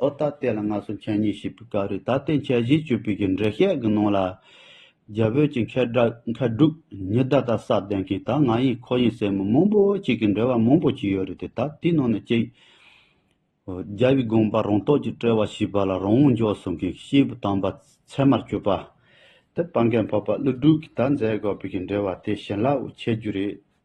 ཨོ་ད་ལྟའི་ལ་ང་སོ་ཆ་གཉིས་ཞེས་པའི་སྐབས་རེད་ད་ལྟའི་ཆ་བཞི་བཅུ་པའི་གི་འགྲེལ་བཤད་གི་ནང་ལ། རྒྱ་བོད་ཀྱི་མཁས་གྲུབ་ཉི་ཟླ་དང་ས་བདན་གྱིས་ད་ང་ཡིན་ཁོ་ཡིན་ཟེར་མི་མང་པོ་ཅིག་གི་འགྲེལ་བ་མང་པོ་ཅིག་ཡོད་རེད་དེ་ད་དེའི་ནང་ནས་གཅིག། རྒྱལ་བའི་དགོངས་པ་རང་རྟོགས་ཀྱིས་བཀྲལ་བ་ཞེས་པ་ལ་རང་འོང་འཇོག་གསུང་གིས་ཤེས་བུ་དམ་པ་ཚད་མར་གྱུར་པ། དེ་སྤང་མཁན་འཕགས་པ་ཀླུ་སྒྲུབ་ཀྱིས་ད་མཛད་དགོས་པའི་གི་འགྲེལ་བ་དེ་བྱིན་རླབས་འོག་འཆད་རྒྱུ་རེད།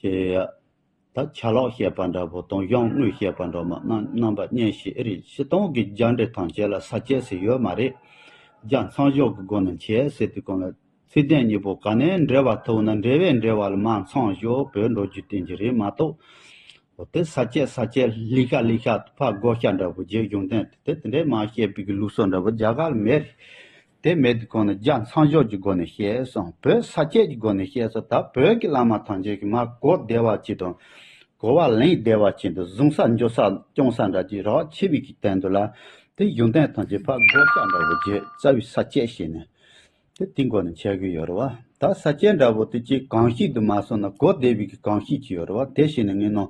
ཀྱེ། ད་ཆ་ལོག་བཤད་པ་འདྲ་བོ་དང་གཞོན་དངུལ་བཤད་པ་འདྲ་མ་རྣམ་པ་གཉེན་བཤེས་ཨེ་རེད་ཕྱི་སྟངས་ཀྱི་རྒྱ་འདྲེ་ཐང་བྱས་ལ་ས་བྱས་ཟེར་ཡོད་མ་རེད། རྒྱ་མཚང་གཞོག་གི་སྒོ་ནས་བྱས་ཟེར་དུས་གང་ལ་ཚིག་ལྡན་གཉིས་པོ་ག་ནས་འབྲེལ་བ་ཐུག་ན་འབྲེལ་བས་འབྲེལ་བ་ལ་མ་མཚང་གཞོག་བོས་འགྲོ་རྒྱུ་བསྟན་གྱི་རེད་མ་གཏོགས། འོ་དེ་ས་བྱས་ས་བྱས་ལི་ཤ་ལི་ཤ་ཕ་བགོ་བཤའ་འདྲ་བོ་རྗེས་གཞུང་བསྟན་དེ་དེ་འདྲས་མ་བཤད་པའི་གི་ལུགས་སོགས་འདྲ་བོ་རྒྱ་གར་མེད་རེད། དེ་མེད་དུ་གོང་ནས་རྒྱ་མཚངས་ཞོར་གྱི་སྒོ་ནས་བཤད་སོང་བོད་ས་སྐྱེས་ཀྱི་སྒོ་ནས་བཤད་སོང་ད་བོད་ཀྱི་བླ་མ་ཐམས་ཅད་ཀྱི་མ་གོ་བདེ་བ་ཅིག་དང། གོ་བ་ལེན་བདེ་བ་ཅིག་འདུག་གཟུང་ས་འཇོག་ས་སྐྱོང་ས་འདྲ་ཅིག་རག་ཆེ་བས་ཀྱི་བསྟན་འདུག་ལ། དེ་གཞུང་བསྟན་ཐམས་ཅད་ཕག་སྒོ་ལྕགས་འདྲ་བོ་རྗེ་རྩ་བའི་ས་སྐྱེས་ཞེས་ནས། དེ་དེའི་སྒོ་ནས་འཆད་གི་ཡོད་རེད་བ། ད་ས་སྐྱེས་འདྲ་བོ་དེ་ཅིག་གང་ཞིག་ཏུ་མ་སོང་ན་གོ་བདེ་བས་ཀྱི་གང་ཞིག་ཅིག་ཡོད་རེད་བ་དེ་ཤེས་ནས་ངེས་གནང།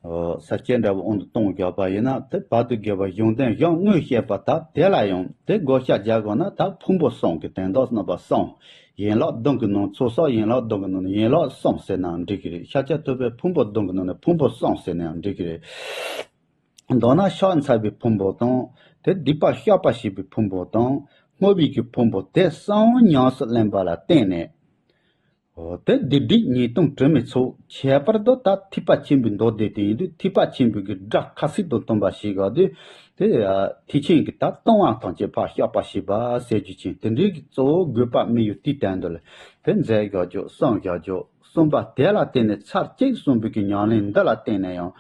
ས་སྐྱེས་འདྲ་བོ་འོང་དུ་གཏོང་དགོས་པ་ཡིན་ན་དེ་བར་དུ་དགེ་བའི་གཞུང་དོན་གཞུང་དངོས་བཤད་པ་དག་དེ་ལ་ཡང་དེ་བགོ་བཤའ་རྒྱག་དགོས་ན་ད་ཕུང་པོ་སོང་གི་དན་ཏོག་རྣམ་པ་སོང། ཡན་ལག་བདུན་གྱི་ནང་ཚུལ་སོགས་ཡན་ལག་བདུན་གྱི་ནང་ནས་ཡན་ལག་སོང་ཟེར་ནའང་འགྲིག་གི་རེད་ཤཱཀྱ་ཐུབ་པའི་ཕུང་པོ་བདུན་གྱི་ནང་ནས་ཕུང་པོ་སོང་ཟེར་ནའང་འགྲིག་གི་རེད། མདོར་ན་ཕྱག་འཚལ་བའི་ཕུང་པོ་དང། དེ་སྡིག་པ་བཤགས་པ་བྱེད་པའི་ཕུང་པོ་དང། དངོས་ཡོད་ཀྱི་ཕུང་པོ་དེ་གསང་བ་ཉམས་སུ་ལེན་པ་ལ་བརྟེན་ནས། འོ་དོད་སྡེ་སྒྲིག་ཉིས་སྟོང་དྲི་མེད་ཚོ་ཁྱད་པར་དུ་ད་ཐུབ་པ་ཆེན་པོའི་མདོ་སྡེ་དེ་ཡིན་དུས་ཐུབ་པ་ཆེན་པོས་གི་སྒྲ་ཁ་སིག་ཏུ་སྟོན་པ་ཞིག་ག་དུས་དེ། ཐེག་ཆེན་གྱི་ད་སྟོན་དབང་ཐང་ཆད་པར་བཤགས་པ་ཞེས་པ་གསལ་རྒྱུ་ཆེན་དེ་འདྲའི་གི་གཙོ་བོ་དགོས་པ་མི་ཡོད་དུས་དད་འདུ་ལ་དེ་མཛད་བཞག་རྒྱུ་གསུངས་བཞག་རྒྱུ་གསུངས་པ་དེ་ལ་བརྟེན་ནས་ཚར་གཅིག་གསུངས་པའི་གི་ཉམས་ལེན་འདི་ལ་བརྟེན་ནས་ཡང།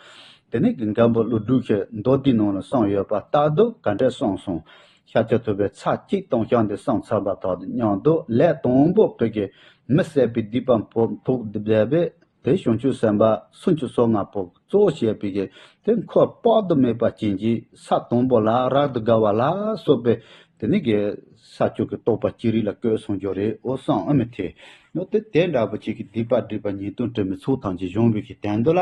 དེ་ནས་གི་འགལ་འབུ་ཀླུ་སྒྲུབ་ཤེས་མདོ་དེའི་ནང་ལ་གསུངས་ཡོད་པ་ལྟ་དུས་ག་འདྲས་གསུངས་སོང། ཤ་ཆུ་ཐུབ་པའི་ཚགས་གཅིག་དང་ཤ་འདི་སངས་ཚར་བ་དག་ཏུ་སྙམ་དུ་ལས་དང་པོ་བགྲོད་ཀྱི་མི་བསད་པའི་སྡིག་པ་ཕོག་ཐུག་བསྡད་པས་དེ་བྱང་ཆུབ་སེམས་དཔའ་སུམ་ཅུ་སོ་ལྔ་པོ་གཙོ་བོ་བྱས་པའི་གེགས་དེ་འཁོར་དཔག་ཏུ་མེད་པ་ཅན་གྱི་ས་དང་པོ་ལ་རག་ཏུ་དགའ་བ་ལ་སོགས་པའི་དེ་ནི་གེགས་ས་བཅུ་གི་རྟོག་པ་ཅི་རིགས་ལ་བཀོད་གསུངས་རྒྱུ་རེད་འོ་སངས་ཨ་མི་ཐེ་ནོ་དེ་དེ་འདྲ་བོ་ཅིག་གི་སྡིག་པ་སྒྲིབ་པ་ཉེས་ལྟུང་དྲི་མི་ཚུགས་ཐམས་ཅད་གཞོམ་བས་ཀྱི་དན་དུ་ལ།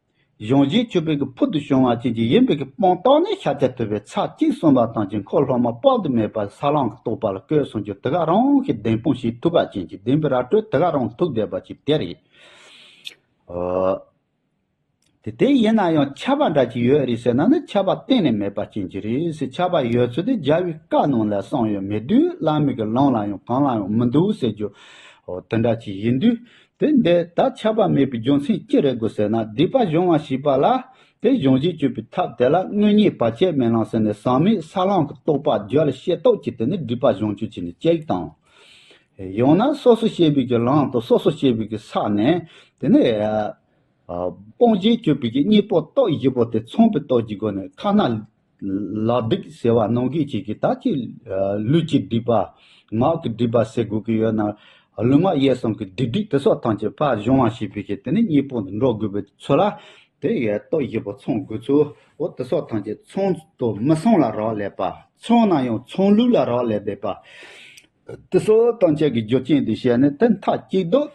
གཞུང་བཞིན་ཆུ་བེད་ཀྱི་ཕུལ་དུ་བྱུང་བ་བཅས་ཀྱི་ཡིན་པའི་སྤང་རྟགས་ནི་ཤཱཀྱ་ཐུབ་པའི་ཚར་གཅིག་གསུངས་པ་དང་དཀྱིལ་འཁོར་སློབ་མ་དཔག་ཏུ་མེད་པ་ས་བླངས་ཀྱི་རྟོགས་པ་ལ་བཀོད་གསུངས་ཀྱི་དེ་ག་རང་གི་གདེང་དཔུང་ཞིག་ཐུབ་པ་ཅན་གྱི་བདེན་པའི་ར་སྤྲོད་དེ་ག་རང་ཐུགས་བདེ་བ་ཅིག་དེ་རེད། དེ་དེ་ཡིན་ན་ཡང་ཁྱབ་པ་འདྲ་ཅིག་ཡོད་རེད་ཟེར་ན་ནི་ཁྱབ་པ་གཏན་ནས་མེད་པ་ཅན་གྱི་རེད་ཁྱབ་པ་ཡོད་ཚུལ་དེ་རྒྱལ་བའི་བཀའ་རྣམས་ལ་གསང་ཡོད་མེད་དུས་བླ་མེད་ཀྱི་ལམ་ལ་ཡང་གང་ལ་ཡང་མི་འདུག་ཟེར་རྒྱུ་དེ་འདྲ་ཅིག་ཡིན་དུས་དེ་འདི་ལྟར་ཆགས་པ་མེད་པའི་རྒྱུ་མཚན་ཅི་རེད་དགོས་ཟེར་ན་སྡིག་པ་གཞོམ་བར་བྱེད་པ་ལ་དེ་གཞོམ་བྱེད་སྤྱོད་པའི་ཐབས་དེ་ལ་དངོས་ཉིད་བར་ཆད་མེད་ལམ་ཟེར་ནས་ཟག་མེད་ས་བླང་གི་རྟོགས་པ་རྒྱུད་ལ་ཤེས་རྟོགས་ཀྱིས་དེ་ནི་སྒྲིབ་པ་གཞོམ་སྤྱོད་བྱས་ནས་སྐྱེ་བའི་དང། ཡང་ན་སོ་སོ་སྐྱེ་བའི་གི་ལམ་དང་སོ་སོ་སྐྱེ་བའི་གི་ས་ནས་དེ་ནི། སྤོང་བྱེད་སྤྱོད་པའི་གི་གཉིས་པོ་རྟོགས་བཞི་པོ་དེ་མཚུངས་པའི་རྟོགས་ཀྱི་སྒོ་ནས་ཁ་ན། ལག་སྡིག་ཟེར་བ་ནང་གི་ཅིག་གིས་ད་ཅི་ལུས་ཀྱི་སྡིག་པ། ངག་གི་སྡིག་པ་སེལ་དགོས་ཀྱི་ཡོད་ན། ལུས་ངག་ཡེ་གསང་གི་བདེ་སྡིག་དེ་སོགས་ཐམས་ཅད་པར་སྦྱོང་བ་ཞིག་བྱེད་དེ་ནས་གཉིས་པོ་འདི་འགྲོགས་དགོས་པའི་ཚོད་ལ། དེ་ཡས་རྟོགས་བཞི་པོ་ཚང་དགོས་ཚུལ་འོ་དེ་སོགས་ཐམས་ཅད་ཚང་དུ་མི་སོང་ལ་རག་ལས་པ། ཚང་ན་ཡང་ཚང་ལུགས་ལ་རག་ལས་པའི་པ། དེ་སོགས་ཐམས་ཅད་ཀྱི་རྒྱུ་རྐྱེན་འདི་བཤད་ནས་དེ་མཐའ་གཅིག་ཏུ།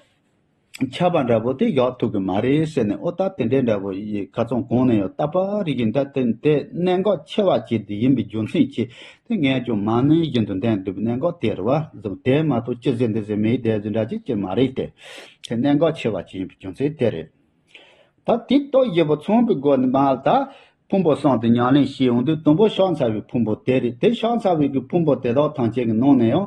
ཁྱབ་པ་འདྲ་པོ་དེ་ཡོག་ཐུག་གི་མ་རེད་ཟེར་ནས་ཨོ་ད་དེ་འདྲའི་འདྲ་པོ་ཡི་ག་ཚོང་གང་ནས་ཡོད་ད་པ་རིག་གི་འདྲ་དེ་འདྲའི་གནད་འགག་ཆེ་བ་ཞིག་འདི་ཡིན་པའི་རྒྱུ་མཚན་གྱིས་དེ་ངས་ཅུང་མང་ནུས་བཞིན་དུ་འདེམས་དགོས་པའི་གནད་འགག་དེར་བ་ཟུག་དེ་མ་གཏོགས་ཅི་ཟེར་འདི་ཟེར་མིའི་སྡེ་བཟོས་འདྲ་ཅིག་ཅིག་མ་རེད་དེ། དེ་གནད་འགག་ཆེ་བ་ཞིག་ཡིན་པའི་རྒྱུ་མཚན་དེ་རེད། ད་དེ་ལྟར་བཞི་པོ་ཚོང་པའི་སྒོ་ནས་མ་ད་ཕུང་པོ་སྲང་དེ་ཉང་ལེན་བྱེད་ཡོང་དུས་དང་པོ་ཤ་ཚ་བའི་ཕུང་པོ་དེ་རེད་དེ་ཤ་ཚ་བའི་གི་ཕུང་པོ་དེ་དག་ཐང་ཆེན་གི་ནང་ནས་ཡང།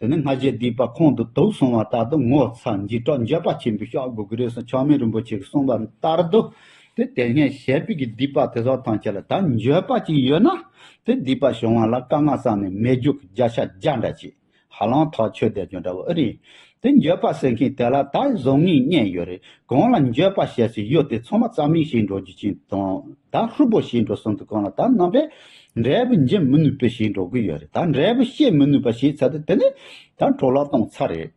དེ་ནས་སྔ་རྗེས་བསྡུས་པ་ཁོང་དུ་དུག་སོང་བ་ལྟར་དུ་ངོ་ཚ་འཇིགས་སྐྲག་འགྱོད་པ་ཆེན་པོས་ཤོག་སྒོ་གི་རིས་སུ་ཆགས་མེད་རིན་པོ་ཆེ་གིས་གསུངས་པ་ལྟར་དུ། དེ་དེ་སྔའི་ཞལ་དཔེ་གྱི་བསྡུས་པ་དེ་སོགས་དང་བཅས་ལ་ད་འགྱོད་པ་ཅིག་ཡོད་ན། དེ་བསྡུས་པ་བྱུང་བ་ལ་དཀའ་ངལ་བསགས་ནས་མེ་རྒྱུག་བརྒྱ་ཤ་བརྒྱ་འདྲ་བྱས། ཧ་ལམ་ཐག་ཆོད་བསྡད་རྒྱུ་འདྲ་བོ་ཨེ་རེད། དེ་འགྱོད་པ་ཟེར་མཁན་དེ་ལ་ད་བཟོ་ངེས་རྙེད་ཡོད་རེད། གང་ལ་འགྱོད་པ་བཤད་སྲོལ་ཡོད་དེ་ཚང་མ་རྩ་མིག་བྱེད་འགྲོ་རྒྱུ་ཅན་དང། ད་ཧྲུལ་པོ་བྱེད་འགྲོ་གསུངས་འདུག་གང་ལ་ད་རྣམ་པས་འབྲས་བུ་འབྱིན་མི་ནུས་པའི་ཞིག་འགྲོ་གི་ཡོད་རེད་ད་འབྲས་བུ་ཤེས་མི་ནུས་པ་ཞིག་ཚད་དེ་ནི་ད་འཕྲོ་བརླག་གཏོང་ཚར་རེད།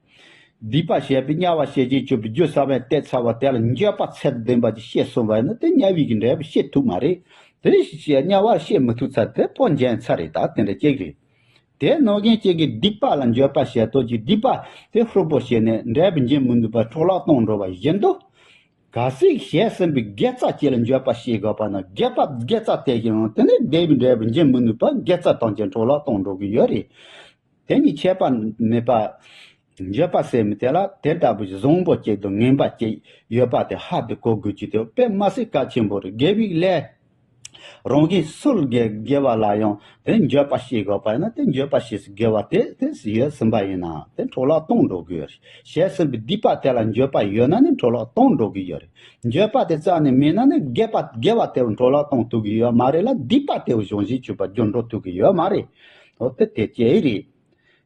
སྡིག་པ་བྱས་པའི་དམྱལ་བ་ཤེས་ཀྱིན་སྤྱོད་པའི་རྒྱུ་ས་བོན་གཏད་ཚར་བ་དེ་ལ་འགྱོད་པ་ཚད་དུ་ལྡན་པ་ཅིག་ཤེས་སོང་བས་ན་དེ་དམྱལ་བའི་གི་འབྲས་བུ་ཤེས་ཐུབ་མ་རེད་དེ་རེ་ཞིག་ཅིག་དམྱལ་བར་ཤེས་མི་ཐུབ་ཚད་དེ་པོ་འབྱན་ཚར་རེད་ད་དེ་འདྲ་ཅིག་རེད། དེ་རྣོ་རྒན་ཅིག་གིས་སྡིག་པ་ལ་འགྱོད་པ་བྱས་དོགས་ཀྱིས་སྡིག་པ་དེ་ཧྲུལ་པོ་བྱས་ནས་འབྲས་བུ་འབྱིན་མི་ནུས་པར་འཕྲོ་བརླག་གཏོང་འགྲོ་བ་བཞིན་དུ། གལ་སྲིད་བཤད་ཟིན་པའི་དགེ་རྩ་གཅིག་ལ་འགྱོད་པ་བྱེད་དགོས་པ་ན་རྒྱལ་བབ་དགེ་རྩ་དེ་བཞིན་རུང་དེ་ནི་དེ་བས་འབྲས་བུ་འབྱིན་མི་ནུས་པར་དགེ་རྩ་ཐམས་ཅད་འཕྲོ་བརླག་དང་འགྲོ་གི་ཡོད་རེད། དེ་གཉིས་ཁྱད་པར་མེད་པར། འགྱོད་པ་ཟེར་མི་དེ་ལ་དེ་ལྟ་བུའི་བཟང་པོ་གཅིག་དང་ངན་པ་གཅིག་ཡོད་པ་དེ་ཧ་དེ་གོ་དགོས་ཀྱི་དེ་དཔེ་མ་ཟད་གལ་ཆེན་པོ་རེད་དགེ་བའི་ལས་རང་གི་སྲོལ་དགེ་བ་ལ་ཡང་དེ་འགྱོད་པ་ཞིག་དགོས་པ་ཡིན་ན་དེ་འགྱོད་པ་ཞིག་དགེ་བ་དེ་དེས་ཡོད་ཟིན་པ་ཡིན་ན་དེ་འཕྲོ་བརླག་གཏོང་འགྲོ་གི་ཡོད་བྱས་ཟིན་པའི་སྡིག་པ་དེ་ལ་འགྱོད་པ་ཡོད་ན་ནི་འཕྲོ་བརླག་གཏོང་འགྲོ་གི་ཡོད་རེད་འགྱོད་པ་དེ་རྩ་ནས་མེད་ན་ནི་དགེ་བ་དགེ་བ་དེ་འཕྲོ་བརླག་གཏོང་ཐུབ་ཀྱི་ཡོད་མ་རེད་ལ་སྡིག་པ་དེ་གཞུང་བཞིན་བྱུས་པ་སྒྱུར་འགྲོ་ཐུབ་ཀྱི་ཡོད་མ་རེད་དེ་དེ་སྐྱེ་ཡི་རེད།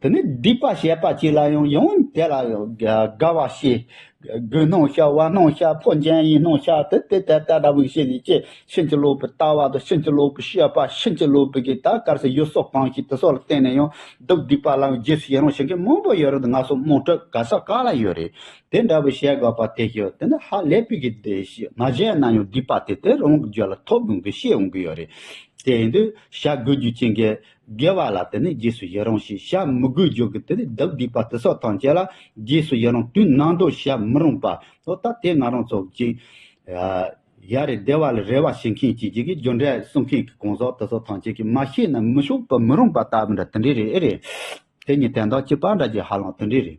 དེ་ནས་སྡིག་པ་བྱེད་པ་གཅིག་ལ་ཡང་ཡང་དེ་ལ་དགའ་བར་བྱས། རྒོད་སྣང་ཤར་བ་སྣང་ཤར་འཕོ་འགྱེན་ཡིན་སྣང་ཤར་དེ་དེ་ལྟ་ལྟ་ལྟ་བུ་བྱས་ནས་ཅེས་ཕྱིན་ཅི་ལོག་པའི་ལྟ་བ་དང་ཕྱིན་ཅི་ལོག་པའི་བཤད་པ་ཕྱིན་ཅི་ལོག་པའི་གིས་ད་གར་སའི་ཡུལ་སོགས་གང་ཞིག་དེ་སོགས་ལ་བརྟེན་ནས་ཡང་སྡུག་སྡིག་པ་ལ་ཡང་རྗེས་སུ་ཡི་རང་བྱེད་མཁན་མང་པོ་ཡོད་རེད་ང་སོགས་དམངས་ཁྲོད་ག་ས་ག་ལ་ཡོད་རེད་དེ་འདྲ་བུ་བྱེད་དགོས་པ་དེ་ཞིག་དེ་འདྲ་ཧ་ལས་པའི་གི་དེ་ཞིག་མ་བྱས་ན་ཡང་སྡིག་པ་དེ་དེ་རང་གི་རྒྱུད་ལ་ཐོབ་ཡོང་གི་ཤེས་ཡོང་གི་ཡོད་རེད་དེ་ཡིན་དུས་བྱ་དགོས་རྒྱུ་ཅི་འགའི་དགེ་བ་ལ་དེ་ནས་རྗེས་སུ་ཡི་རང་ཞེས་བྱ་མི་དགོས་བརྗོད་ཀྱི་དེ་ནས་བདག་བསྡུས་པ་དེ་སོགས་ཐམས་ཅད་ལ་རྗེས་སུ་ཡི་རང་དུས་ནང་འདོགས་བྱ་མི་རུང་པ་ལོ་ད་དེ་ང་རང་ཚོ་གཅིག། ཡ་རེད་བདེ་བ་ལ་རེ་བ་བྱེད་མཁན་གྱིས་གཅིག་གིས་རྒྱུ་འབྲས་གསུང་མཁན་གྱི་གང་ཟག་དེ་སོགས་ཐམས་ཅད་ཀྱིས་མ་ཤེས་ན་མི་ཆོག་པ་མི་རུང་པ་ལྟ་བུ་འདྲ་དེ་འདྲས་རེད་ཨེ་རེད། དེ་གཉིས་དན་དང་གཅིག་པ་འདྲ་རྒྱུ་ཧ་ལམ་དེ་འདྲས་རེད།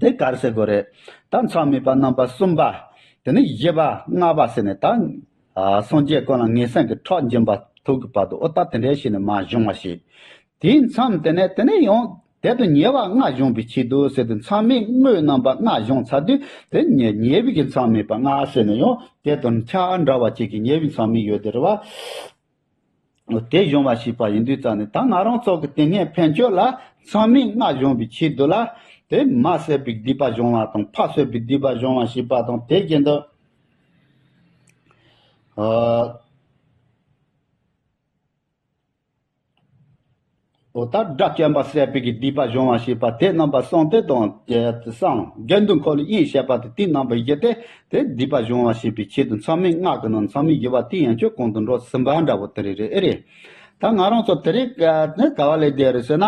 དེ་གར་གསལ་པོ་རེད། ད་མཚམས་མེད་པ་རྣམ་པ་གསུམ་པ། དེ་ནས་བཞི་པ་ལྔ་པ་ཟེར་ནས་ད། སངས་རྒྱས་དཀོན་ལ་ངེས་གསང་གི་ཁྲག་འབྱིན་པ་ཐུག་གི་བར་དུ་ཨོ་ད་དེ་འདྲའི་ཞིག་ནི་མ་བྱུང་བ་ཞིག། དེའི་མཚམས་དེ་ནས་དེ་ནས་ཡང། དེ་དང་ཉེ་བ་ལྔ་བྱུང་བའི་ཆེད་དུ་ཟེར་དུས་མཚམས་མེད་དངོས་རྣམ་པ་ལྔ་བྱུང་ཚར་དུས་དེ་ཉེ་ཉེ་བའི་གི་མཚམས་མེད་པ་ལྔ་ཟེར་ནས་ཡང་དེ་དང་ཆ་འདྲ་བ་གཅིག་གི་ཉེ་བའི་མཚམས་མེད་ཡོད་དེ་རེད་བ། དེ་གཞུང་བ་ཞིག་པ་ཡིན་དུས་ཙམ་ནས་ད་ང་རང་ཚོ་གི་དེ་སྔའི་ཕན་ཆོད་ལ་ཚང་མས་བསྔགས་གཞོང་བའི་ཕྱིར་དུ་ལ་དེ་མ་བསད་པའི་སྡིག་པ་གཞོང་བ་དང་ཕག་བསད་པའི་སྡིག་པ་གཞོང་བ་ཞིག་པ་དང་དེ་བཞིན་དུ། དོ་བདག་སྒྲ་བརྐྱང་པ་གསལ་བས་ཀྱི་སྡིག་པ་སྦྱོང་བ་ཞེས་པ་དེ་རྣམ་པ་གསང་སྟེ་དང། སངས་རྒྱས་འདུ་འཁོར་ལོ་དབྱིངས་བཤད་པ་དེ་དེའི་རྣམ་པ་ཡི་གེ་སྟེ་དེ་སྡིག་པ་སྦྱོང་བ་བྱེད་པའི་ཆེད་དུ་མཚམས་མེད་སྔགས་ཀྱི་ནང་མཚམས་མེད་བགྱི་བ་དེ་ཡང་ཆོས་གོང་དུ་འགྲོ་ཟིན་པ་འདྲ་བོ་དེ་རེད་རེད་ཨེ་རེད། ད་ང་རང་ཚོ་དེ་རིགས་ག་བ་ལས་བསྡད་རེད་ཟེར་ན།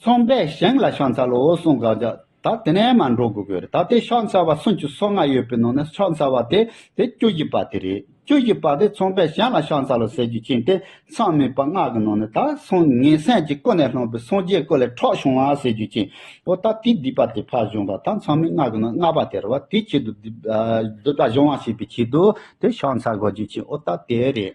ཚོང་པས་ཞིང་ལ་ཤོག་འཚལ་ལོ་གསུམ་བཀག་རྒྱ་ད་དེ་ནས་མ་འགྲོ་དགོས་ཀྱི་རེད་ད་དེ་ཤོག་འཚལ་བ་སུམ་ཅུ་སོ་ལྔ་ཡོད་པའི་ནང་ནས་ཤོག་འཚལ་བ་དེ་དེ་བཅུ་བཞི་པ་དེ་རེད་བཅུ་བཞི་པ་དེ་ཚོང་པས་ཞིང་ལ་ཤོག་འཚལ་ལོ་ཟེར་རྒྱུ་ཕྱིན་ཏེ་ཚང་མའི་པ་ལྔ་གི་ནང་ནས་ད་སོང་ངའི་སེམས་ཀྱི་ཀུན་ནས་ལྷུང་པའི་སངས་རྒྱས་སྐུ་ལས་འཕྲོག་བྱུང་བ་ཟེར་རྒྱུ་ཕྱིན་འོ་ད་དེ་སྡིག་པ་དེ་ཕར་གཞོང་པ་ད་ཚང་མའི་ལྔ་གི་ནང་ལྔ་པ་དེ་རེད་བ་དེའི་ཆེད་དུ་སྡིག་པ་གཞོང་བ་བྱེད་པའི་ཆེད་དུ་དེ་ཤོག་འཚལ་དགོས་རྒྱུ་ཕྱིན་འོ་ད་དེ་རེད།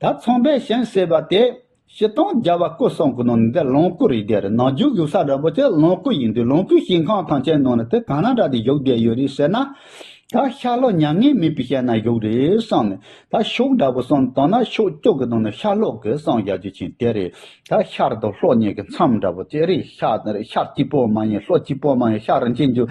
ད་ཚོང་པའི་ཞིང་ཟེར་བ་དེ་ཕྱི་སྟོང་རྒྱལ་བ་སྐུ་གསུམ་གྱི་ནང་ནས་འདི་ལོངས་སྐུ་རིགས་བསྡད་རེད་ནང་རྒྱུག་ཡོད་ས་རིན་པོ་ཆེ་ལོངས་སྐུ་ཡིན་དུས་ལོངས་སྐུའི་ཞིང་ཁང་ཐང་ཆེན་ནང་ནས་དེ་གང་ན་འདྲ་དེ་བཞུགས་བསྡད་ཡོད་རེད་ཟེར་ན། ད་ཤར་ལྷོ་མྱ་ངན་མེད་པའི་ཤེད་ན་བཞུགས་རེད་གསུངས་ནས་ད་ཕྱོགས་འདྲ་པོ་གསུངས་དང་ན་ཕྱོགས་བཅུ་གི་ནང་ནས་ཤར་ལྷོ་གི་གསུངས་བཞག་རྒྱུ་ཆེན་དེ་རེད་ད་ཤར་དང་ལྷོ་གཉིས་ཀྱི་མཚམས་འདྲ་པོ་དེ་རེད་ཤར་གཅིག་པོ་མ་ཡིན་ལྷོ་གཅིག་པོ་མ་ཡིན་ཤར་རིན་ཆེན་རྒྱུ།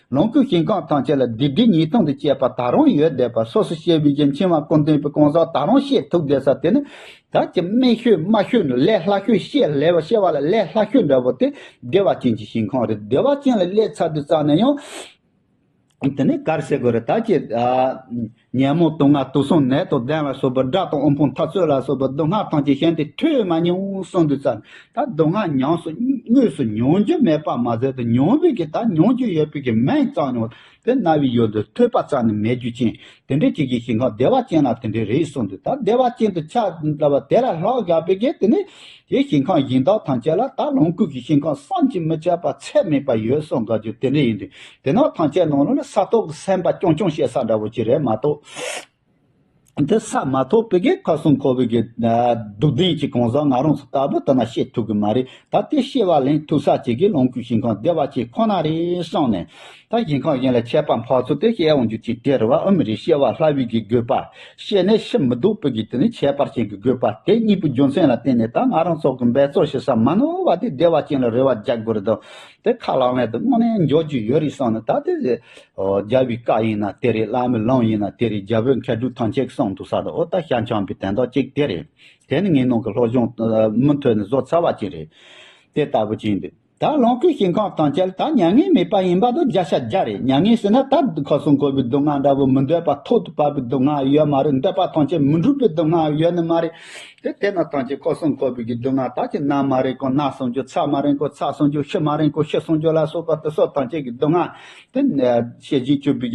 ལོངས་སྐུའི་ཞིང་ཁམས་ཐམས་ཅད་ལ་བདུད་སྡེ་ཉིས་སྟོང་དུ་བཅས་པ་ད་རུང་ཡོད་བསྡད་པ་སོ་སོ་ཤེས་པའི་རྒྱུན་འཆིང་བ་སྐུ་མདུན་པའི་གང་ཟག་ད་རུང་ཤེས་ཐུབ་བསྡད་ས་དེ་ནི། བདག་གི་སྨད་ཤོད་དམའ་ཤོད་ནི་ལས་སླ་ཤོད་ཤེས་ལས་བ་ཤེས་བ་ལ་ལས་སླ་ཤོད་འདྲ་བོ་དེ་བདེ་བ་ཅན་གྱི་ཞིང་ཁམས་རེད་བདེ་བ་ཅན་ལ་སླེབས་ཚར་དུས་རྩ་ནས་ཡང། དེ་ནས་གར་བྱེད་དགོས་རེད་ད་ཅེས། ཉོན་མོངས་དུག་ལྔ་དུག་གསུམ་ནད་དང་ལྡན་ལ་སོགས་པའི་དགྲ་དང་དབུལ་ཕོངས་འཐབ་རྩོད་ལ་སོགས་པའི་སྡུག་བསྔལ་ཐམས་ཅད་གཞན་དུ་ཐོས་མ་མྱོང་གསུངས་འདུག་ཙང་ད་སྡུག་བསྔལ་ཉམས་སུ་དངོས་སུ་མྱོང་རྒྱུ་མེད་པར་མ་ཟད་དུ་མྱོང་བོད་ཀྱི་ད་མྱོང་རྒྱུ་ཡོད་བོད་ཀྱི་མན་གཙང་མྱོང་དེ་རྣ་བའི་ཡུལ་དུ་ཐོས་པ་ཙམ་ནི་མེད་རྒྱུ་ཅན་དེ་འདྲའི་ཁྱེད་ཀྱི་ཞིང་ཁམས་བདེ་བ་ཅན་ལ་དེ་འདྲའི་རེད་གསུངས་འདུག་ད་བདེ་བ་ཅན་དུ་ཆགས་འདྲ་བ་དེ་ལ་ལྷག་བཞག་པའི་གེགས་དེ་ནི་དེའི་ཞིང་ཁམས་གཞན་དག་ཐམས་ཅད་ལ་ད་ལོངས་སྐུ་གི་ཞིང་ཁམས་བསམ་གྱིས་མི་ཁྱབ་པ་ཚད་མེད་པ་ཡོད་གསུངས་ག་རྒྱུ་དེ་འདྲ་ཡིན་དུས་དེ་ནང་ཐང་ཆད་ནང་ལ་ས་ཐོག་གི་སེམས་པ་སྐྱོང་སྐྱོང་བྱེད་ས་འདྲ་བོ་ཅི་རེད་མ་གཏོགས། འདི་ས་མ་ཐོག་པི་གའི་ཁ་སུམ་ཁོ་བོས་ཀྱི་སྡུག་བདེན་གྱི་གང་ཟག་ང་རང་ཚོ་ལྟ་བུ་དེ་ན་ཤེས་ཐུབ་ཀྱི་མ་རེད་ད་དེ་ཤེས་པ་ལན་ཐུག་ས་བྱེད་ཀྱི་ལོངས་སྐུའི་ཞིང་ཁང་བདེ་བ་ཆེ་ཁོ་ན་རེད་བསམ་ནས། ད་ཞིང་ཁང་གཞན་ལ་ཆད་པ་འཕགས་ཚུལ་དེ་བཤད་འོང་རྒྱུ་ཅིག་དེ་རེད་བ་ཨུ་མི་རེད་ཤེས་བ་སླ་བུའི་གི་དགོས་པ་བཤད་ནས་ཤི་མི་འདུག་པི་གའི་དེ་ནི་ཁྱད་པར་ཅན་གྱི་དགོས་པ་དེ་གཉིས་པོའི་རྒྱུ་མཚན་ལ་བརྟེན་ནས་ད་ང་རང་ཚོ་གི་འབད་རྩོལ་བྱེད་ས་མ་ནོར་བ་དེ་བདེ་བ་ཅན་ལ་རེ་བ་རྒྱག་དགོས་རེད་དོ། དེ་ཁ་ལག་མེད་དུ་དངོས་གནས་འཇོག་རྒྱུ་ཡོད་རེད་བསམ་ན་ད་དེ་རེད། རྒྱལ་བའི་བཀའ་ཡིན་ན་དེ་རེད་བླ་མའི་ལུང་ཡིན་ན་དེ་རེད་རྒྱལ་པོའི་མཁས་གྲུབ་ཐམས་ཅད་ཀྱི་གསུང་དུ་ས་དང་འོག་དང་ཤར་བྱང་པའི་དན་རྟགས་གཅིག་དེ་རེད། དེ་ནི་ངེད་ནང་གི་སློབ་སྦྱོང་མུ་མཐུད་ནས་བཟོ་ཚར་བ་གཅིག་རེད། དེ་ལྟ་བུ་གཅིག་འདུག་ད་ལོངས་སྐུའི་ཞིང་ཁམས་ཐམས་ཅད་ལ་ད་མྱ་ངན་མེད་པ་ཡིན་པ་དང་བརྒྱ་ཆ་བརྒྱ་རེད་མྱ་ངན་ཟེར་ན་ད་ཁོ་སྲུང་འཁོར་བའི་སྡུག་བསྔལ་འདྲ་བོ་མི་འདོད་པ་ཐོག་ཏུ་བབ་པའི་སྡུག་བསྔལ་ཡོད་མ་རེད་འདོད་པ་ཐམས་ཅད་མི་འགྲུབ་པའི་སྡུག་བསྔལ་ཡོད་ནི་མ་རེད། དེ་དེ་ན་ཐང་ཅིག་ཁོ་སྲུང་ཁོ་བོས་ཀྱི་སྡུག་བསྔལ་དག་ཅིག་ནམ་མ་རེག་གོ་ནགས་སྲུང་རྒྱུ་ཚགས་མ་རེག་གོ་ཚགས་སྲུང་རྒྱུ་ཤི་མ་རེག་གོ་ཤི་སྲུང་རྒྱུ་ལ་སོགས་པ་དེ་སྲོག་ཐང་ཅིག་གི་སྡུག་བསྔལ། དེ་ནས་ཤེས་བཞིན་སྤྱོད་པའི་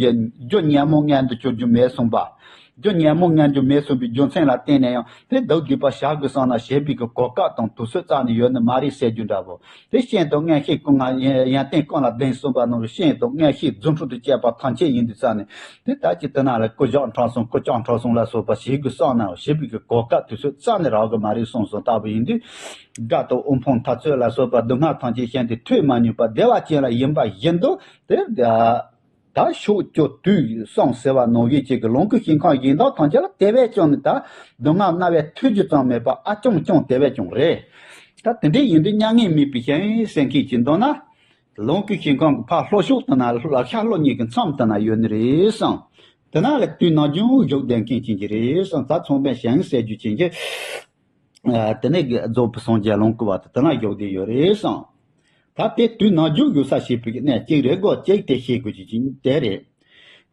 རྒྱུ་ཉོན་མོངས་ངན་དུ་གྱུར་རྒྱུ་མེད་གསུངས་པ། རྒྱུ་ཉོན་མོངས་ངན་གྱུར་མེད་གསུངས་པའི་རྒྱུ་མཚན་ལ་བརྟེན་ནས་ཡང་དེ་བདག་བསྡུས་པར་བཞག་དགོས་བསམ་ན་ཞེས་པའི་གོ་སྐབས་དང་དུས་ཚོད་བཙལ་ནས་ཡོད་ནི་མ་རེད་ཟེར་རྒྱུ་འདྲ་བོ། དེ་བཞིན་དུ་མངལ་ཤེས་ཀུན་སྔ་ཡན་ཏན་ཀུན་ལ་གདན་གསུམ་པ་རྣམས་རེ་ཤེས་དང་མངལ་ཤེས་རྫུ་འཕྲུལ་དུ་བཅས་པ་ཐམས་ཅད་ཡིན་དུ་བསམས་ནས་དེ་དག་གི་དུས་ན་ལ་ཀུ་ཇག་འཕྲང་སྲུང་ཀུ་ལྕགས་འཕྲང་སྲུང་ལ་སོགས་པ་བྱེད་དགོས་བསམས་ནའང་བྱེད་པོ་གི་གོ་སྐབས་དུས་ཚོད་རྩ་ནས་རག་གི་མ་རེད་གསུངས་སོང་ལྟ་བུ་ཡིན་དུས། སྒྲ་དང་དབུ་འཕང་མཐའ་ཚོད་ལ་སོགས་པ་སྡུག་བསྔལ་ཐམས་ཅད་ཤེས་འདི་ཐོས་མ་མྱོང་པ་བདེ་བ་ཅན་ལ་ཡིན་པ་བཞིན་དུ་དེར། ད་ཤོག་སྐྱོ་དུས་ཡོད་སོང་ཟེར་བ་ནོར་ཡོད་ཅིག་གི་ལོངས་སྐུ་ཞིང་ཁང་ཡིན་མདོག་ཐང་ཆད་ལ་དེ་བས་ཀྱང་ནི་ད་སྡུག་བསྔལ་རྣ་བས་ཐོས་རྒྱུ་ཙམ་མེད་པ་ཨ་སྐྱོང་སྐྱོང་དེ་བས་ཀྱང་རེད། ད་དེ་འདྲའི་ཡིན་དུས་མྱ་ངན་མེད་པའི་ཞལ་གསེར་མཁན་གྱིས་མདོར་ན། ལོངས་སྐུ་ཞིང་ཁང་གི་ཕར་ལྷོ་ཕྱོགས་དུ་ན་ལག་ཤ་ལྷོ་གཉིས་ཀྱི་མཚམས་དུ་ན་ཡོད་ནི་རེད་བསམ། དེ་ན་ལ་དུས་ན་རྒྱུན་བཞུགས་བསྡད་མཁན་བྱིན་གྱིས་རེད་བསམ་ད་ཚོང་པས་ཞལ་གསེར་རྒྱུ་བྱིན་གྱིས། དེ་ནས་རྫོགས་པའི་སངས་རྒྱས་ལོངས་སྐུ་བ་དེ་དེ་ན་བཞུགས་བསྡད་ཡོད་རེད་བསམས། ད་དེ་དུས་ན་བཞུགས་ཡོད་ས་ཞིག་ཕུད་ནས་ཅིག་རེ་གོ་ཅིག་དེ་ཤེས་དགོས་ཀྱི་ཅིག་དེ་རེད།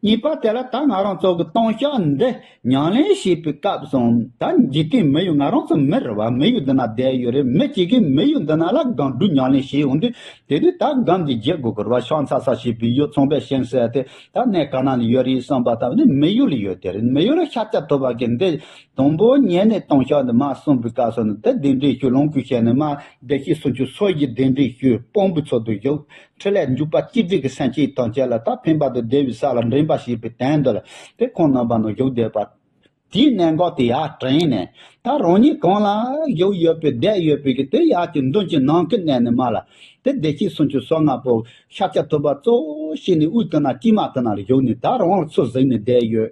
གཉིས་པ་དེ་ལ་ད་ང་རང་ཚོ་གི་སྟོང་ཤག་འདི་ཉང་ལེན་བྱས་པའི་སྐབས་སུ་ད་འཇིག་རྟེན་མི་ཡུལ་ང་རང་ཚོ་མི་རེ་བ་མི་ཡུལ་འདི་ན་བསྡད་ཡོད་རེད་མི་གཅིག་གིས་མི་ཡུལ་འདི་ན་ལ་སྒང་སྦྲུལ་ཉང་ལེན་བྱས་ཡོང་དུས་དེ་དུས་ད་སྒང་གི་རྗེ་གུ་གུར་བ་ཤང་ཚ་ས་ཞེས་པའི་ཡུལ་ཚོང་པའི་ཤིང་སེ་དེ་ད་གནས་ག་ན་ནས་ཡོད་རེད་བསམས་པ་ད་ནི་མི་ཡུལ་ལ་ཡོད་དེ་རེད་མི་ཡུལ་ལ་ཤ་སྐྱ་ཐོབ་པ་གི་འདི་དང་པོ་ཉན་ནས་སྟོང་ཕྱག་ནི་མ་གསུངས་པའི་སྐབས་སུ་ནི་དེ་བདེན་བྲལ་ཞུ་ལོངས་སྐུའི་ཞལ་ནི་མ་བདེ་སྐྱེས་སུ་འགྱུར་སོ་ཞེས་བདེན་བྲལ་ཞུའི་དཔང་པོའི་ཚུལ་དུ་བཞུགས། ཁྲི་ལས་འཇུག་པ་སྤྱི་དྲིལ་གྱི་སེམས་བསྐྱེད་དང་བཅས་ལ་ད་ཕན་བར་དུ་བདེ་བའི་ས་ལ་འདྲེན་པ་ཞེས་པའི་དོན་འདོད་ལ་དེ་ཁོང་རྣམ་པར་ནི་བཞུགས་བསྡད་པ། དེའི་གནད་འགག་དེ་ཡར་དྲན་ནས་ད་རང་ཉིད་གང་ལ་བཞུགས་ཡོད་པའི་བསྡད་ཡོད་པའི་གི་དེ་ཡར་གྱི་མདུན་གྱི་ནང་གི་གནད་ནི་མ་ལ་དེ་བདེ་སྐྱེས་སུ་འགྱུར་སོ་ལྔ་པོ་ཤཱཀྱ་ཐུབ་པ་གཙོ་བོ་ཞིག་ནི་དབུས་དུ་ན་སྐྱིལ་མ་དུ་ན་ལ་བཞུགས་ནས་ད་རང་ལ་ཚུར་གཟིགས་ནས་བསྡད་ཡོད།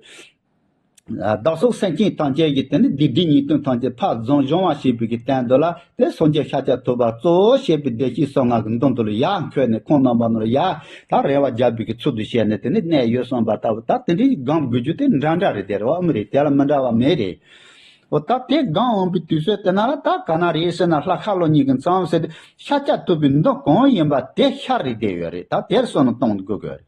བདག་སོགས་སེམས་ཅན་ཐམས་ཅད་ཀྱི་དེ་ནི་སྡིག་སྒྲིབ་ཉེས་ལྟུང་ཐམས་ཅད་འཕགས་རྫོང་སྦྱོང་བ་ཞེས་པའི་གྱི་བསྟན་དོ་ལ་དེ་སོགས་ཀྱི་ཤཱཀྱ་ཐུབ་པར་གཙོ་བོ་ཞེས་པའི་བདེ་གཤེགས་སོགས་ངག་གི་མདུན་དུ་ལ་ཡར་འཁོད་ནས་ཁོང་རྣམ་པ་རྣམས་ལ་ཡར་དག་རེ་བ་རྒྱག་པའི་གྱི་ཚུལ་དུ་བྱས་ནས་དེ་ནི་གནད་ཡོད་གསུངས་པ་ལྟ་བུ་ད་དེ་འདྲའི་སྒང་དགོས་རྒྱུ་དེ་འདྲ་འདྲ་རེད་དེ་རེད་བའམ་རེད་དེ་ལ་མི་འདྲ་བ་མེད་རེད་འོ་ད་དེ་སྒང་འོངས་པའི་དུས་ཚོད་དེ་ན་ལ་ད་ག་ན་རེད་ཟེར་ན་ལྷ་ཁ་ལོ་གཉིས་ཀྱི་མཚམས་ཟེར་དེ་ཤཱཀྱ་ཐུབ་པའི་མདུན་གང་ཡིན་པ་དེ་ཤར་རེད་དེ་ཡོད་རེད་ད་དེར་སོང་ནས་གཏོང་དགོས་གི་རེད།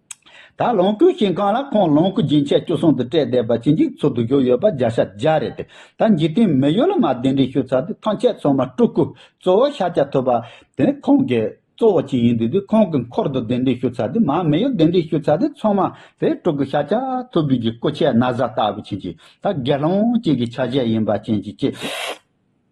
ད་ལོངས་སྐུའི་ཞིང་ཁང་ལ་ཁོང་ལོངས་སྐུ་སྦྱིན་ཆད་བཅུ་གསུང་དུ་བཀྲལ་བསྡད་པ་ཕྱིན་ཅི་འཚོལ་དུ་བཞུགས་ཡོད་པ་བརྒྱ་ཆ་བརྒྱ་རེད་དེ་ད་འཇིག་རྟེན་མི་ཡོད་ལ་མ་གདན་འདྲེན་ཞུ་ཚར་དུས་ཐང་ཆད་སོང་མ་སྤྲུལ་སྐུ་གཙོ་བོ་ཤཱཀྱ་ཐུབ་པ་དེ་ཁོང་གི་གཙོ་བོ་གཅིག་ཡིན་དུས་དེ་ཁོང་གི་འཁོར་དུ་གདན་འདྲེན་ཞུ་ཚར་དུས་མ་མི་ཡོད་གདན་འདྲེན་ཞུ་ཚར་དུས་ཚང་མ་དེ་སྤྲུལ་སྐུ་ཤཱཀྱ་ཐུབ་བདུད་ཀྱི་སྐུ་ཆས་ན་བཟའ་ལྟ་བུ་ཕྱིན་ཅི་ད་དགེ་སློང་གཅིག་གི་ཆ་བྱད་ཡིན་པ་ཕྱིན་ཅི་ཅི།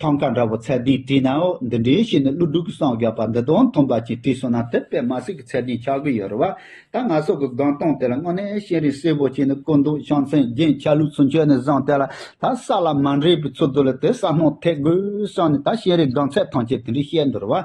ཐང་ག་འདྲ་བོ་ཚད་ལྡན་བྲིས་ན་འདི་འདྲའི་ཞིག་ནི་ཀླུ་སྒྲུབ་ཀྱི་སངས་རྒྱས་པ་འདི་དང་མཐུན་པ་ཅིག་བྲིས་སོང་ན་དེ་པད་མ་སྲས་ཀྱི་ཚད་ལྡན་ཆགས་ཀྱི་ཡོད་རེད་བ། ད་ང་སོགས་ཀྱི་སྒང་སྟོང་དེ་ལ་དངོས་གནས་ཤེས་རིག་གསལ་བོ་ཅིག་ནི་དཀོན་མདོག་ཤང་མཚན་རྒྱན་ཆ་ལུགས་ཚུན་ཆོད་ནས་བཟུང་དེ་ལ་ད་ས་ལ་མ་འདྲེས་པའི་ཚུལ་དུ་ལ་དེ་ས་སྣང་ཐེག་དགོས་བསམ་ནས་ད་ཤེས་རིག་སྒང་ཚད་ཐམས་ཅད་དེ་འདྲས་བཤད་འདུག་རེད་བ།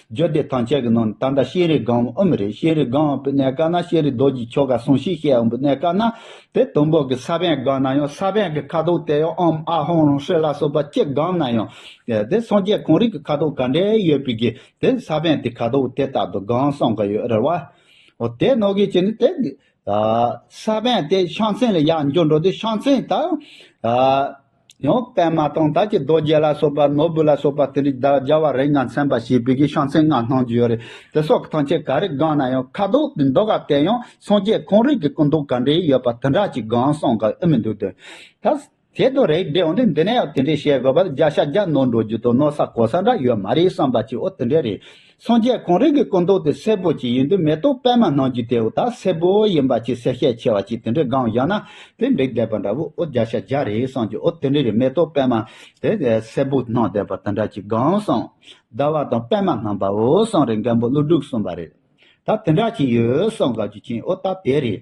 རྒྱུད་སྡེ་ཐམས་ཅད་ཀྱི་ནང་ནས་ད་ལྟ་ཤེས་རིག་སྒང་དབུ་མི་རེད་ཤེས་རིག་སྒང་དབུ་མི་གནས་དཀའ་ན་ཤེས་རིག་རྡོ་རྗེའི་ཆོ་ག་ཟུང་ཤིག་ཤེས་དབུ་མི་གནས་དཀའ་ན་དེ་དུམ་བུ་གི་ས་བོན་སྒང་ན་ཡང་ས་བོན་གྱི་ཁ་དོག་དེ་ཡང་ཨམ་ཨ་ཧོང་རོང་ཧྲི་ལ་སོགས་པ་ཅི་སྒང་ན་ཡང་དེ་སངས་རྒྱས་གང་རིགས་ཀྱི་ཁ་དོག་ག་འདྲའི་ཡོད་པའི་གི་དེ་ས་བོན་དེ་ཁ་དོག་དེ་ལྟར་དུ་སྒང་སངས་གི་ཡོད་རེད་བ། ཨོ་དེ་ནོར་གི་བྱས་ནས་དེ་ས་བོན་དེ་ཤངས་ཚན་ལ་ཡག་འཇོག་འགྲོ་དུས་ཤངས་ཚན་དང། ཡང་པདྨ་དང་དར་གྱི་རྡོ་རྗེ་ལ་སོགས་པ་ནོར་བུ་ལ་སོགས་པ་དེ་རིགས་བདག་རྒྱལ་བ་རིགས་ལྔ་མཚན་པ་ཞེས་བོད་ཀྱི་ཤོང་ཚད་སྔགས་སྣང་བརྒྱུད་རེད་དེ་སོགས་ཀྱི་ཐང་ཆེན་ག་རེ་སྒང་ན་ཡང་ཁ་དོག་གི་མདོ་ག་དེ་ཡང་སངས་རྒྱས་གང་རིགས་ཀྱི་སྐུ་མདོག་ག་འདྲའི་ཡོད་པ་དེ་འདྲ་ཅིག་སྒང་སངས་ག་ཨེ་མི་འདུག་དོན་ད་གལ་དུ་རེག་བྲལ་འོན་ཏེ་འདི་ནས་ཡང་དེ་འདྲའི་བཤད་དགོས་པ་ལ་རྒྱ་ཤ་རྒྱ་ནོར་འགྲོ་རྒྱུ་དང་ནོར་ས་གོ་ས་འདྲ་ཡོད་མ་རེད་བསམ་པ་ཅིའོ་དེ་འདྲའི་རེད་སངས་རྒྱས་གོང་རིམ་གྱི་སྐུ་མདོག་དེ་སེར་པོ་ཅིག་ཡིན་དུས་མེ་ཏོག་པད་མ་ནང་བརྒྱུད་དེ་འོ་ད་སེར་པོ་ཡིན་པ་ཅིག་སེར་ཤས་ཆེ་བ་ཅིག་དེ་འདྲའི་སྒང་བཞག་ན་དེ་འགྲིག་བསྡད་པ་འདྲ་བོ་ཨོ་བརྒྱ་ཆ་བརྒྱ་རེད་བསམ་གྱི་ཨོ་དེ་འདྲའི་རིགས་མེ་ཏོག་པད་མ་དེ་སེར་པོ་ནང་བསྡད་པ་དེ་འདྲ་ཅིག་སྒང་བསམ། ཟླ་བ་དང་པད་མ་སྣམ་པའོ་བསམ་རེད་མཁན་པོ་ཀླུ་སྒྲུབ་གསུངས་པ་རེད། ད་དེ་འདྲ་ཅིག་ཡོད་བསམ་ག་རྒྱུ་ཅན་ཨོ་ད་དེ་རེད།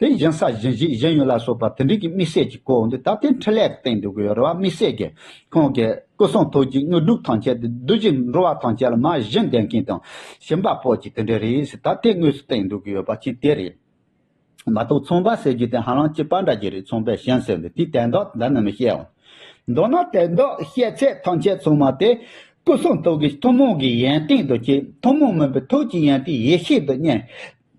དེ་བཞིན་ས་གཞན་བཞི་གཞན་ཡོད་ལ་སོགས་པ་དེ་འབྲེལ་གྱི་དམིགས་བསལ་གྱི་སྐུ་འོང་དུས་ད་ལྟའི་འཕྲིན་ལས་ཀྱི་སྟེང་དུ་གུ་ཡོར་བ་དམིགས་བསལ་གྱི་ཁོང་གི་སྐུ་གསུང་ཐུགས་ཀྱི་དངོས་གྲུབ་ཐམས་ཅད་དུ་བདུད་བཞི་འགྲོ་བ་ཐམས་ཅད་ལ་མ་གཞི་འདས་མཁན་དང་ཞིང་པ་པོ་གྱི་དེ་འབྲེལ་རེས་སུ་ད་ལྟའི་དངོས་སུ་སྟེང་དུ་གུ་ཡོར་བ་གཅིག་དེ་རེད། མ་གཏོགས་ཚོང་པ་ཟེར་རྒྱུ་དེ་ཧ་ལམ་སྐྱི་པགས་འདྲ་གྱི་རིགས་ཚོང་པས་གཞན་ཟེར་འདུག་དེས་དད་འདོགས་དེ་འདྲ་ནི་མི་ཤེས། མདོར་ན་དད་འདོགས་བཤད་ཚད་ཐམས་ཅད་ཚང་མ་དེ་སྐུ་གསུང་ཐུགས་ཀྱི་ཐུན་མོང་གི་ཡན་ཏན་དུ་བསྐྱེད་ཐུན་མོང་མིན་པའི་ཐུགས་ཀྱི་ཡན་ཏན་ཡེ་ཤེས་དུ་བསྙེན།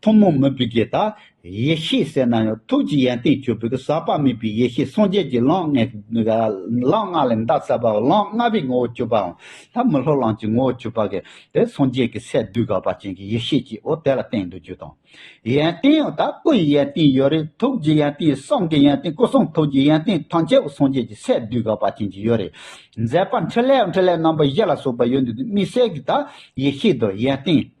ཐུན་མོང་མོས་པའི་རྒྱས་དང། ཡེ་ཤེས་གསལ་སྣང་ཡང་ཐུགས་ཀྱི་ཡན་ཏན་ཆོད་པས་ཟག་པ་མེད་པའི་ཡེ་ཤེས་སངས་རྒྱས་ཀྱི་ལམ་ལྔའི་ལམ་ལྔ་ལས་འདའ་ཟབ་པའོ་ལམ་ལྔ་པའི་ངོ་བོ་ཆོད་པའམ་ལྷ་མི་ལྷོ་ལམ་གྱི་ངོ་བོ་ཆོད་པ་གལ་ཏེ་སངས་རྒྱས་ཀྱི་སས་བསྡུས་དགག་པ་ཅན་གྱི་ཡེ་ཤེས་ཀྱིའོ་དེ་ལ་བརྟེན་འདུ་རྒྱུ་དང། ཡན་ཏན་ཡང་དག་སྐུ་ཡི་ཡན་ཏན་ཡོད་རེ་ཐུགས་ཀྱི་ཡན་ཏན་གསང་གི་ཡན་ཏན་སྐུ་གསུང་ཐུགས་ཀྱི་ཡན་ཏན་ཐམས་ཅད་སངས་རྒྱས་ཀྱི་སས་བསྡུས་དགག་པ་ཅན་གྱི་ཡོད་རེ། མཛད་པ་འཕྲིན་ལས་འཕྲིན་ལས་རྣམ་པ་བཞི་ལ་སོགས་པ་ཡོད་འདུ་དུ་དམིགས་བསལ་གྱི་དག་ཡེ་ཤེས་དང་ཡན་ཏན།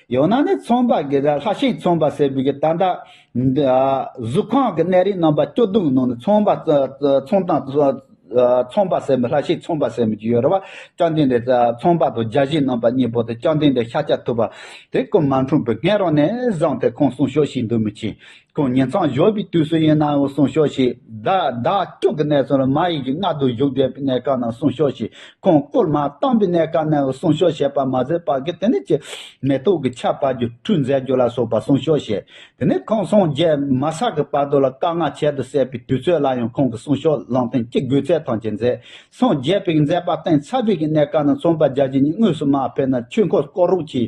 ཡང་ན་ནི་ཚོང་པ་གི་ལྷ་ཤིང་ཚོང་པ་ཟེར་བའི་ད་ལྟ་གཟུགས་ཁང་གི་གནས་རིའི་རྣམ་པ་སྐྱོ་གདུང་ནང་ནས་ཚོང་པ་ཚོང་དང་ཚོང་པ་ཟེར་མོད་ལྷ་ཤིང་ཚོང་པ་ཟེར་མོད་ཀྱི་ཡོད་རེད་བ་སྤྱང་ལྡེང་འདྲེ་ཚོང་པ་དང་རྒྱ་གཞིས་རྣམ་པ་གཉིས་པོ་དེ་སྤྱང་ལྡེང་འདྲེ་ཤ་ཆ་ཐུབ་པ་དེ་ཀུན་མ་འཁྲུངས་པའི་སྔས་རང་ནས་བཟང་སྟེ་ཁོང་གསུང་ཤོག་ཤིག་འདུག་མི་ཆེན་ཁོང་ཉིད་མཚམས་ཞོགས་པའི་དུས་སུ་ཡིན་ནའང་གསུང་ཤོག་ཞིག་བདག་བདག་སྐྱོང་གི་གནས་ཚུལ་མ་ཡིག་གི་མངལ་དུ་བཞུགས་བསྡད་པའི་གནས་སྐབས་ནང་གསུང་ཤོག་ཞིག་ཁོང་བསྐུར་མ་བཏང་པའི་གནས་སྐབས་ནའང་གསུང་ཤོག་ཞེས་པ་མ་ཟད་བར་གྱི་དེ་ནས་ཀྱི་མེ་ཏོག་གི་ཆར་བར་གྱི་འཁྲུལ་མཛད་རྒྱུ་ལ་སོགས་པ་གསུང་ཤོག་བཞེས། དེ་ནས་ཁོང་སོང་རྗེས་མ་བསགས་ཀྱི་བར་དུ་ལ་དཀའ་ངལ་ཁྱད་དུ་བསད་པའི་དུས་ཚོད་ལ་ཡང་ཁོང་གི་གསུང་ཤོག་ལུང་བསྟན་གྱི་དགོས་ཚད་ཐམས་ཅད་མཛད། སངས་རྒྱས་པའི་མཛད་པ་གཏིང་ཟབ་པའི་གནས་སྐབས་ནང་རྩོམ་པ་རྒྱ་ཆེན་གཉིས་དངོས་སུ་མ་ཕེབས་ན་ཆོས་འཁོར་བསྐོར་རོགས་གྱིས་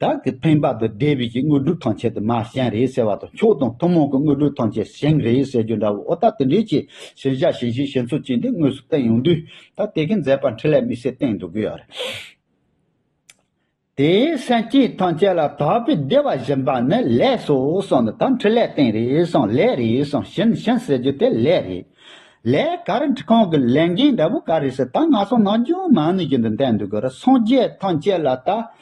བདག་གིས་ཕན་པ་དང་བདེ་བའི་གཞི་དངོས་གྲུབ་ཐམས་ཅད་དུ་མ་གཞན་རེད་ཟེར་བ་དང་མཆོག་དང་ཐུན་མོང་གི་དངོས་གྲུབ་ཐམས་ཅད་གཞན་རེད་ཟེར་རྒྱུ་འདྲ་བོ་ཨོ་ད་དེ་འདྲའི་ཆེད་ཞེན་བྱ་ཞེན་ཞིག་ཞེན་ཚོད་ཅིག་འདི་དངོས་སུ་བསྟན་ཡོང་དུས་ད་དེ་གའི་མཛད་པ་འཕྲིན་ལས་མི་སེར་སྟེང་འགྲོ་གི་ཡོད་རེད། དེའི་སེམས་ཅན་ཐམས་ཅད་ལ་དག་པའི་བདེ་བ་བཞིན་པ་ནི་ལས་སོ་གསུངས་ནས་ད་འཕྲིན་ལས་སྟེང་རེད་གསུངས་ལས་རེད་གསུངས་ཞེན་ཞེན་ཟེར་རྒྱུ་དེ་ལས་རེད། ལས་ག་རེ་འཁྲི་ཁང་གི་ལས་འགན་འདྲ་བོ་ག་རེ་ཟེར་ད་ང་སོང་ནང་ཇོ་མང་ནས་ཀྱི་འདི་འདེམས་འདུག་གི་ར་སངས་རྒྱས་ཐམས་ཅད་ལ་ད་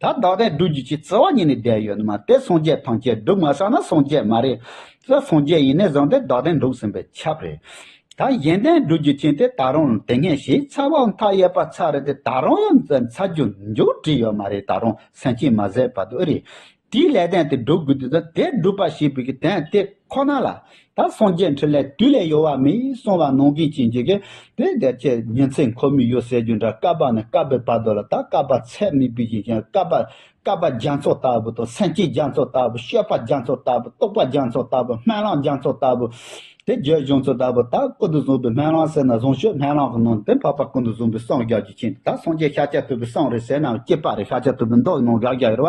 ད་བདག་དད་སྒྲུབ་རྒྱུ་ཆེད་བརྩེ་བ་ཉིད་ནས་བསྡད་ཡོད་མ་དེ་སངས་རྒྱས་ཐམས་ཅད་སྒྲུབ་མ་ས་ན་སངས་རྒྱས་མ་རེད། སོ་སངས་རྒྱས་ཡིན་ནས་བཟང་དེ་བདག་དད་འགྲུབ་ཟིན་པའི་ཁྱབ་རེད། ད་གཞན་དད་སྒྲུབ་རྒྱུ་ཆེན་དེ་ད་རུང་དེ་སྔའི་གཞས་ཚ་བའམ་མཐའ་ཡས་པ་ཚ་རེད་དེ་ད་རུང་ཡང་ཚ་རྒྱུ་མཇུག་བསྒྲིལ་ཡོད་མ་རེད་ད་རུང་སེམས་ཅན་མ་བཟད་པ་དུ་རེད། དེའི་སླད་དད་དེ་སྒྲུབ་དགོས་དུས་ད་དད་སྒྲུབ་པ་ཞེས་པའི་གི་དད་དེ་ཁོ་ན་ལ། ད་སངས་རྒྱས་འཕྲིན་ལས་དུས་ལས་ཡོལ་བ་མིན་གསུང་བ་ནོངས་གིས་ཅི་འགྱིག་གེ་དེ་སྡེར་བཅས་ཉིན་ཚེ་འཁོར་མི་གཡོ་ཟེར་རྒྱུ་འདྲ་བསྐལ་པ་ནས་བསྐལ་པའི་བར་དོ་ལ་ད་བསྐལ་པ་ཚད་མེད་པའི་ཞིང་ཞེན་བསྐལ་པ་བསྐལ་པ་རྒྱ་མཚོ་ལྟ་བུ་དང་སེམས་ཅན་རྒྱ་མཚོ་ལྟ་བུ་ཤེས་པ་རྒྱ་མཚོ་ལྟ་བུ་རྟོགས་པ་རྒྱ་མཚོ་ལྟ་བུ་སྨན་བླང་རྒྱ་མཚོ་ལྟ་བུ། དེ་རྒྱུད་གཞུང་ཚུལ་ལྟ་བུ་ད་ཀུན་ཏུ་བཟུང་བའི་སྨན་བླང་ཟེར་ན་བཟུང་ཤོས་སྨན་བླང་གི་ནང་དུ་འཕགས་པ་ཀུན་ཏུ་བཟུང་བའི་སངས་རྒྱས་ཀྱི་ཆེད་ད་སངས་རྒྱས་ཤཱཀྱ་ཐུབ་པའི་སངས་རེད་ཟེར་ནའང་སྐྱེས་པ་རེད་ཤཱཀྱ་ཐུབ་པའི་མདོག་གི་ནང་ཤཱཀྱ་ཡོད་པ།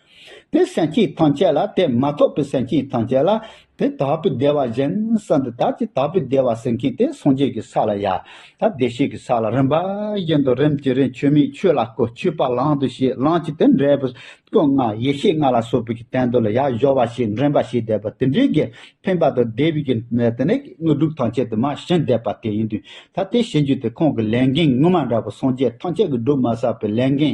དེ་སེམས་ཅན་ཐམས་ཅད་ལ་དེ་མ་གཏོགས་པའི་སེམས་ཅན་ཐམས་ཅད་ལ་དེ་དག་པའི་བདེ་བ་གཞན་ས་འདི་དག་ཅིག་དག་པའི་བདེ་བ་ཟིན་མཁན་དེ་སངས་རྒྱས་ཀྱི་ས་ལ་ཡང་དག་བདེ་གཤེགས་ཀྱི་ས་ལ་རིམ་པ་བཞིན་དུ་རིམ་གྱིས་རིམ་ཆོས་མིན་ཆོས་ལ་བཀོད་ཆོས་པ་ལང་དུ་ཞེས་ལང་གཅིག་དེ་འབྲས་བུ་སྐུ་ལྔ་ཡེ་ཤེས་ལྔ་ལ་སོགས་པའི་ཀྱི་དོན་དུ་ལ་ཡང་སྦྱོར་བ་ཞིག་འདྲེན་པ་ཞིག་བཟླས་པ་དེ་འདྲའི་གྱི་ཕན་པ་དང་བདེ་བའི་གྱི་གནས་དེ་ནས་དངོས་གྲུབ་ཐམས་ཅད་དུ་མ་ཞིང་བཟླས་པ་དེ་ཡིན་དུས་ད་ལྟའི་བྱེད་རྒྱུ་དེ་ཁོང་གི་ལས་འགན་དངོས་མ་འདྲ་བ་སངས་རྒྱས་ཐམས་ཅད་ཀྱི་སྒྲུབ་མ་བསགས་པའི་ལས་འགན་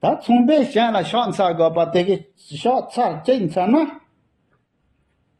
ད་མཚུངས་པས་གཞན་ལ་ཕྱག་འཚལ་དགོས་པ་དེ་གས་ཕྱག་འཚལ་གཅིག་འཚལ་ན།